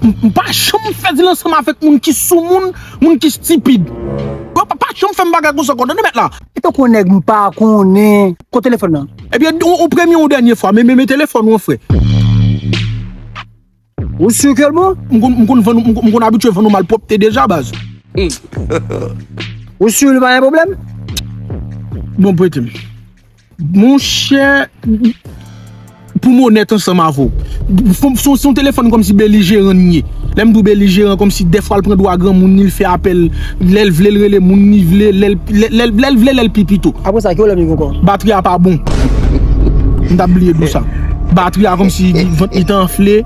M pa janm fè dil ansanm avèk moun ki soumoun, moun ki stipid. Yo pa pa janm fè m bagay konsa ankò, tande mèt la. Eske w konnen nèg m pa konnen? Kot telefòn nan? Ebyen, yon premye yon dènye fwa, men men telefòn ou an frè. Ou sur ke l bon? M konn m konn vann ou m konn abitye vann ou malpwòpte deja baz. Ou sur li pa gen pwoblèm? Bon prete m. Monchè Pou m onèt ansanm avè w Se yon telefòn kòmsi belijeran li ye Lè m di w belijeran kòmsi dèfwa l pran dwa granmoun li l fè apèl Lè l vle l rele moun li vle Lè l vle lè l pi pito Apre sa ki pwoblèm li gen ankò? Batri a pa bon M ta bliye di w sa Batri a kòmsi vant li te anfle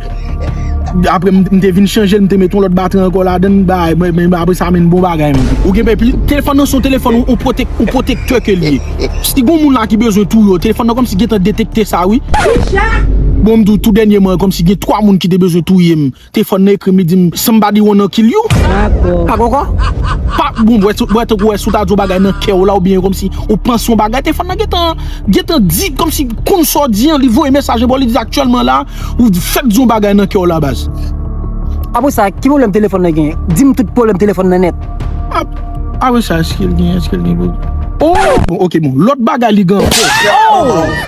Apre m te vin chanje l m te met yon lòt batri ankò ladan l Apre sa men bon bagay men Ou gen pè Telefòn nan se yon telefòn ou pwotektè ke li ye. Si gon moun la ki bezwen touye w telefòn nan kòmsi gentan detekte sa wi. Bon m di w tou dènyeman kòmsi gen 3 moun ki te bezwen touye m telefòn nan ekri m li di m somebody wanna kill you. Pako ankò? Pa bon wè tankou wè si w ta di yon bagay nan kè w la oubyen kòmsi ou panse yon bagay telefòn nan gentan gentan di kòmsi konn sa w di an li voye mesaj anba w li di aktyèlman la ou fèk di yon bagay nan kè w la baz. Apresa ki pwoblèm telefòn nan gen? Di m tout pwoblèm telefòn nan nèt. Ah wi sa eske l gen eske l gen pou Ooh bon ok bon lòt bagay li gen ankò.